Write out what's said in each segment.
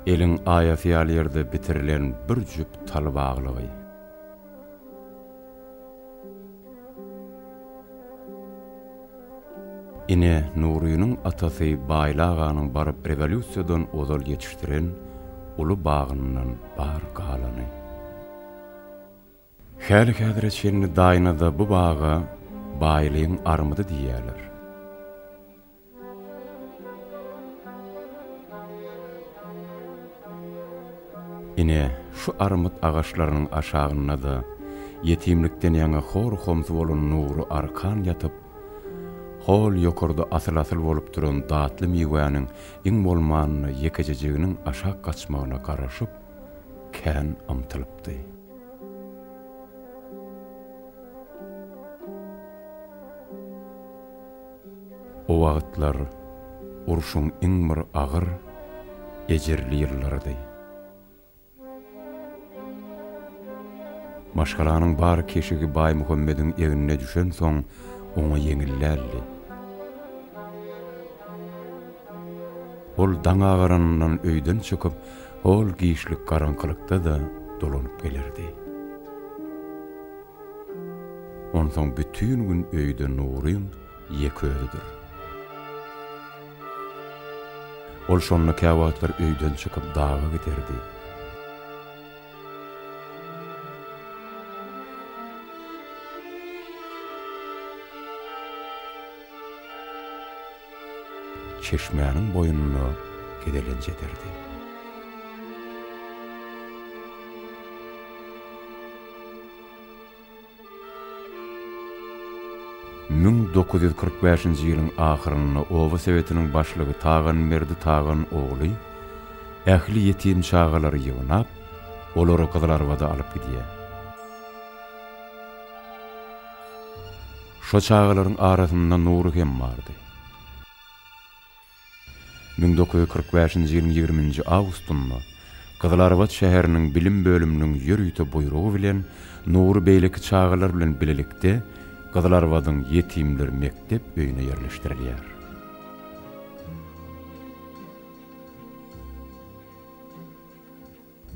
Eliň aýasy ýaly ýerde bitirilen bir jüp tal baglygy. Ine, Nurynyň atasy Baýly aganyň baryp rewolýusiýadan ozal ýetişdiren uly bagyndan bar galany. Häli-häzire çenli Daýnada bu baga Baýlygyň armydy diýýärler. Ine, şu armyt agaçlarynyň aşagynda-da ýetimlikden ýaňa hor-homsy bolan Nury arkan ýatyp, hol ýokarda asyl-asyl bolup duran datly miwäniň iň bolmanda ýekejejiginiň aşak gaçmagyna garaşyp, kän ymtylypdy. O wagtlar urşuň iň bir agyr, ejirli ýyllarydy. Maşgalanyň bar keşigi Baýmuhammediň egnine düşensoň, oňa ýeňil däldi. Ol daň agaranyndan öýden çykyp, Hol giçlik garaňkylykda-da dolanyp gelerdi. Onsoň bütin gün öýde Nuryň ýeke özüdir. Ol şonda käwagtlar öýden çykyp daga giderdi. çeşmäniň boýunda gezelenç ederdi. Müň dokuz ýüz kyrk bäşinji ýylyň ahyrynda oba sowetiniň başlygy Taganberdi Tagan ogly ähli ýetim çagalary ýygnap, olary Gyzylarbada alyp gidýär. Şo çagalaryň arasynda Nury hem bardy. Müň dokuz ýüz kyrk bäşinji ýylyň ýigriminji awgustynda Gyzylarbat şäheriniň bilim bölüminiň ýörite buýrugy bilen Nury beýleki çagalar bilen bilelikde Gyzylarbadyň ýetimler mekdep öýüne ýerleşdirilýär.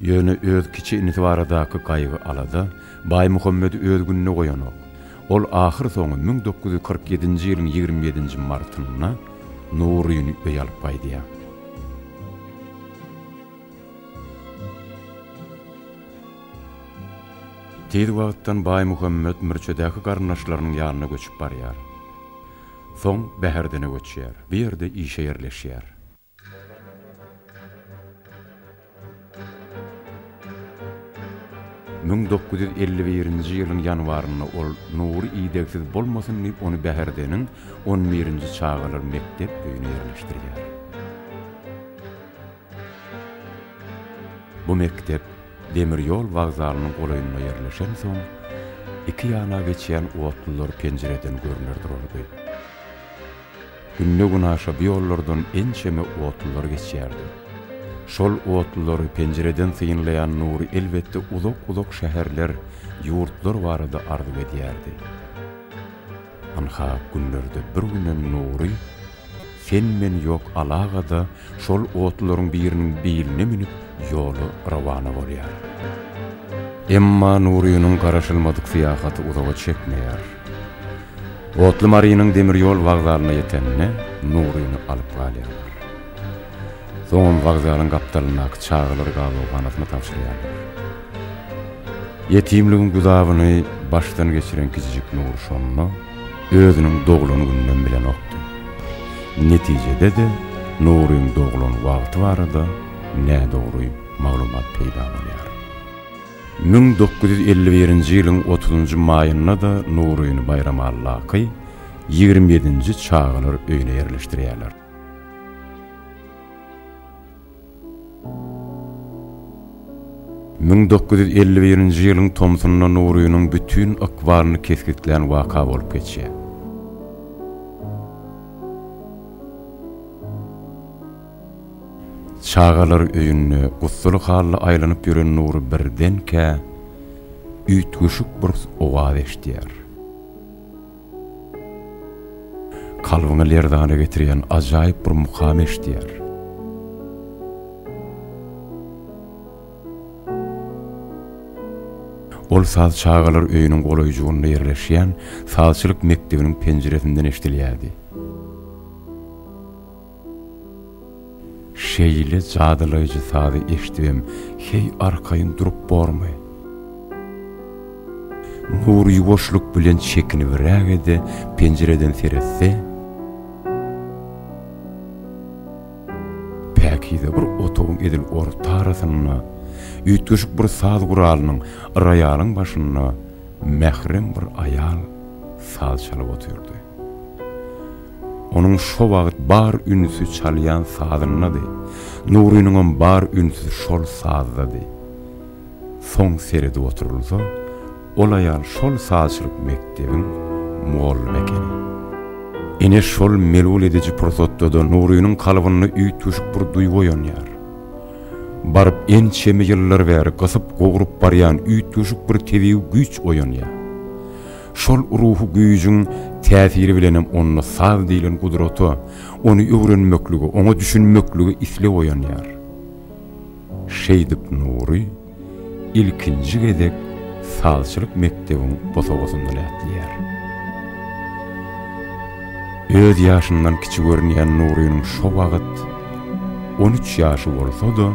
Ýöne öz kiçi inisi baradaky gaýgy-alada Baýmuhammedi öz gününe goýanok. Ol ahyrsoňy müň dokuz ýüz kyrk ýedinji ýylyň ýigrimi ýedinji martynda Nuryny öýe alyp gaýdýar. Tiz wagtdan Baýmuhammet Mürçedäki garyndaşlarynyň ýanyna göçüp barýar. Soň Bäherdene göçýär. Bu ýerde işe ýerleşýär. Müň dokuz ýüz elli birinji ýylyň ýanwarynda ol Nury idegsiz bolmasyn diýip ony Bäherdeniň on birinji çagalar mekdep öýüne ýerleşdirýär. Bu mekdep demir ýol wokzalynyň golaýynda ýerleşensoň, iki ýana geçýän otlular penjireden görner durardy. Günde-günaşa bu ýollardan ençeme otlular geçýärdi. Şol otlulary penjireden synlaýan Nury elbetde uzak-uzak şäherler, ýurtlar barada arzuw edýärdi. Ynha, günlerde bir günem Nury Sen-men ýok alagada Şol otlularyň biriniň beýline münüp, ýola rowana bolýar. Emma Nurynyň garaşylmadyk syýahaty uzaga çekmeýär. Otly Marynyň demir ýol wagzalyna ýetende, Nuryny alyp galýarlar. Soňam wagzalyň gapdalyndaky çagalar gabawyhanasyna tabşyrýarlar. Ýetimligiň gudabyny başdan geçiren kiçijik Nury şonda. özüniň doglan günden bilenokdy. Netijede-de Nuryň doglan wagty barada nädogry maglumat peýda bolýar. Müň dokuz ýüz elli birinji ýylyň otuzynjy maýynda-da Nuryny Baýramallaky ýigrimi ýedinji çagalar öýüne ýerleşdirýärler. Müň dokuz ýüz elli birinji ýylyň tomsunda Nurynyň bütin ykbalyny kesgitlän waka bolup geçýär. Çagalar öýünde gussaly hally aýlanyp ýören Nury birdenkä üýtgeşik bir owaz eşidýär. Kalbyňy lerzana getirýän ajaýyp bir mukam eşidýär. Ol saz çagalar öýüniň golaýjygynda ýerleşýän sazçylyk mekdebiniň penjiresinden eşidilýärdi. Şeýle jadylaýjy sazy eşdibem heý arkaýyn durup bormy? Nury ýuwaşlyk bilen çekinibräge-de penjireden seretse, päkize bir otagyň edil ortarasynda, üýtgeşik bir saz guralynyň, roýalyň başynda mährem bir aýal saz çalyp otyrdy. Onuň şo wagt bar ünsi çalýan sazyndady. Nurynyňam bar ünsi şol sazdady. Soň seredip oturylsa, ol aýal şol sazçylyk mekdebiň mugallymy ekeni. Ine şol melul ediji pursatda-da Nurynyň kalbynda üýtgeşik bir duýgy oýanýar. Baryp ençeme ýyllar bäri gysyp-gowrup barýan üýtgeşik bir tebigy güýç oýanýar. Şol ruhy güýjüň täsiri bilenem onda saz diýlen gudrata, ony öwrenmeklige, oňa düşünmeklige isleg oýanýar. Şeýdip Nury ilkinji gezek sazçylyk mekdebiň bosagasynda lätleýär. Öz ýaşyndan kiçi görünýän Nurynyň şo wagt on üç ýaşy bolsa-da,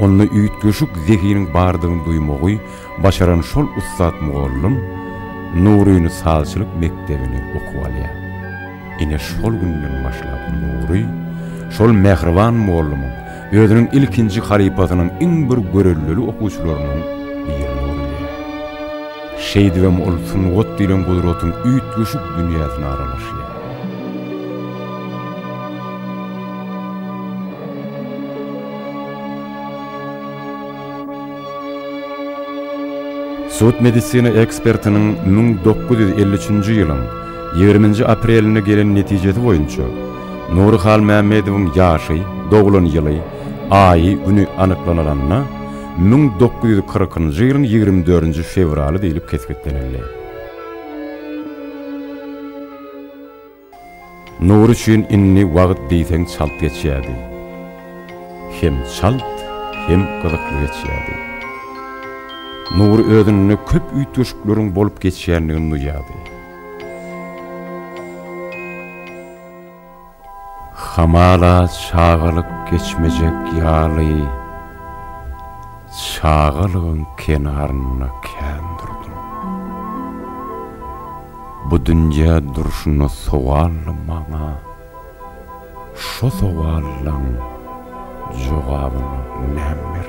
onda üýtgeşik zehiniň bardygyny duýmagy Başaran şol ussat mugallym Nuryny sazçylyk mekdebine okuwa alýar. Ine şol günden başlap Nury şol mähriban mugallymyň, özüniň ilkinji halypasynyň iň bir görellili okuwçylarynyň birine öwrülýär. Şeýdibem ol sungat diýlen gudratyň üýtgeşik dünýäsine aralaşýar. Sud-medisina ekspertiniň müň dokuz ýüz elli üçünji ýylyň ýigriminji aprelinde gelen netijesi boýunça, Nury Halmämmedowyň ýaşy, doglan ýyly, aýy, güni anyklanylanda, müň dokuz ýüz kyrkynjy ýylyň ýigrimi dördünji fewraly diýlip kesgitlenildi. Nury üçin indi wagt diýseň çalt geçýärdi. Hem çalt, hem gyzykly geçýärdi. Nury özünde köp üýtgeşikleriň bolup geçýändigini duýýardy. Hamala çagalyk geçmejek ýaly. Çagalygyň kenarynda kän durdum. Bu dünýä durşuna sowally maňa şo sowallaň jogabyny näm berdiň?